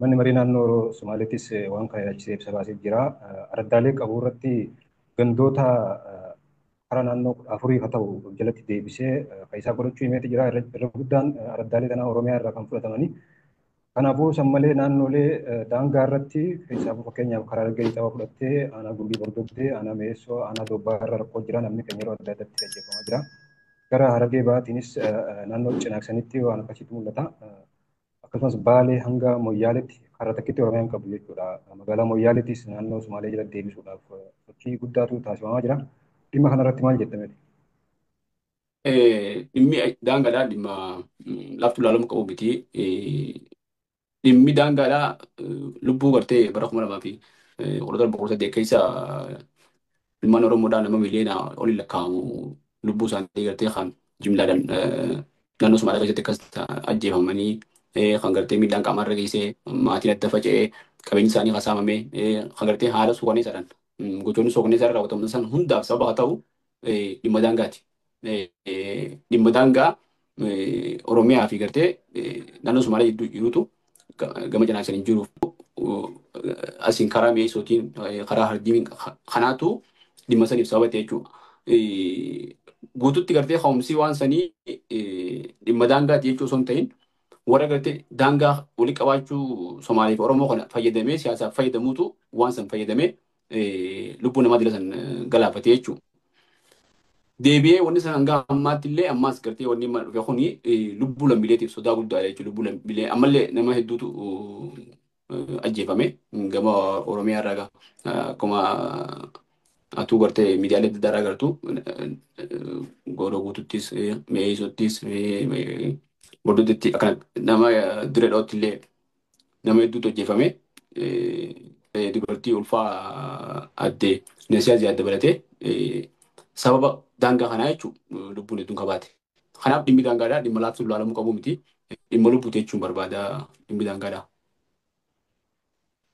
Manni Maree Naannoo Somaaleetis waan kana ilaalchisee ibsa baasee jira. Araddaalee qabu irratti gandoota hara naannoo 14 haa ta'u of jalatti deebisee kan isaa godhachuu himeeti jira. Irra guddaan araddaalee kanaa Oromiyaa irraa kan fudhatamanii. Kanaafuu san malee naannoolee daangaa irratti keessaafuu fakkeenyaaf karaa Harargee Lixaa fudhattee aanaa Gumbii Bordoddee, aanaa Mi'eessoo, aanaa Doobbaa irra rakkoo jira namni keenya yeroo adda addaatti ajjeefamaa jira. Gara Harargee Bahaatiinis naannoo Cinaaksanitti waan akkasiitu mul'ata. akkasumas Baalee hanga Moyyaaleetti karra takkitti Oromiyaa hin qabdu jechuudha. Magaalaa Moyyaaleettis naannoo Sumaalee jala deebisuudhaaf sochii guddaatu taasifamaa jira. Dhimma kanarratti maal jetta mee? Dhimmi daangaadhaa dhimma laftu ilaalamuu qabu miti. Dhimmi daangaadhaa lubbuu gartee bara kuma lamaa fi kudha torba kudha saddeet keessa Ilmaan Oromoodhaa nama miliyoona oliin lakkaa'amu lubbuu isaanii gartee kan jimlaadhaan naannoo Somaalaa keessatti akkas ajjeefamanii kan gartee miidhaan qaamaa irra geessee maatiin adda faca'ee qabeenyi isaanii kan saamamee kan gartee haala suukaneessaadhaan gochoonni suukaneessaa irra raawwataman san hundaaf sababa haa ta'u dhimma daangaati. dhimma daangaa Oromiyaa fi gartee naannoo Somaalee jidduu jirutu gama cinaaksaan hin jiruuf asiin karaa mi'eessootiin karaa harjiin kanaatu dhimma saniif sababa ta'e jechuudha. Guututti gartee ka'umsii waan sanii dhimma daangaati jechuu osoo hin ta'in warra gartee daangaa walitti qabaachuu Somaalee fi Oromoo kana fayyadamee siyaasaaf fayyadamuutu waan san fayyadamee lubbuu namaa dila san galaafate jechuudha. Deebi'ee wanni san hanga ammaatti illee ammaas gartee wanni mana dhufe kuni lubbuu lammiileetiif sodaa guddaadha jechuudha. Lubbuu lammiilee ammallee nama hedduutu ajjeefame gama Oromiyaa irraa akkuma atuu gartee miidiyaalee adda addaa gartuu gooroo guututtis mi'eessuttis bordoddetti akkana nama dirree dhawatti illee nama hedduutu ajjeefame. Dubartii ulfaa adde Nasiyaa Ziyaad dabalatee sababa daangaa kanaa jechuun lubbuun hedduun kabaate. Kanaaf dhimmi daangaadhaa dhimma laaftuun ilaalamuu qabu miti. Dhimma lubbuuti jechuun barbaada dhimmi daangaadhaa.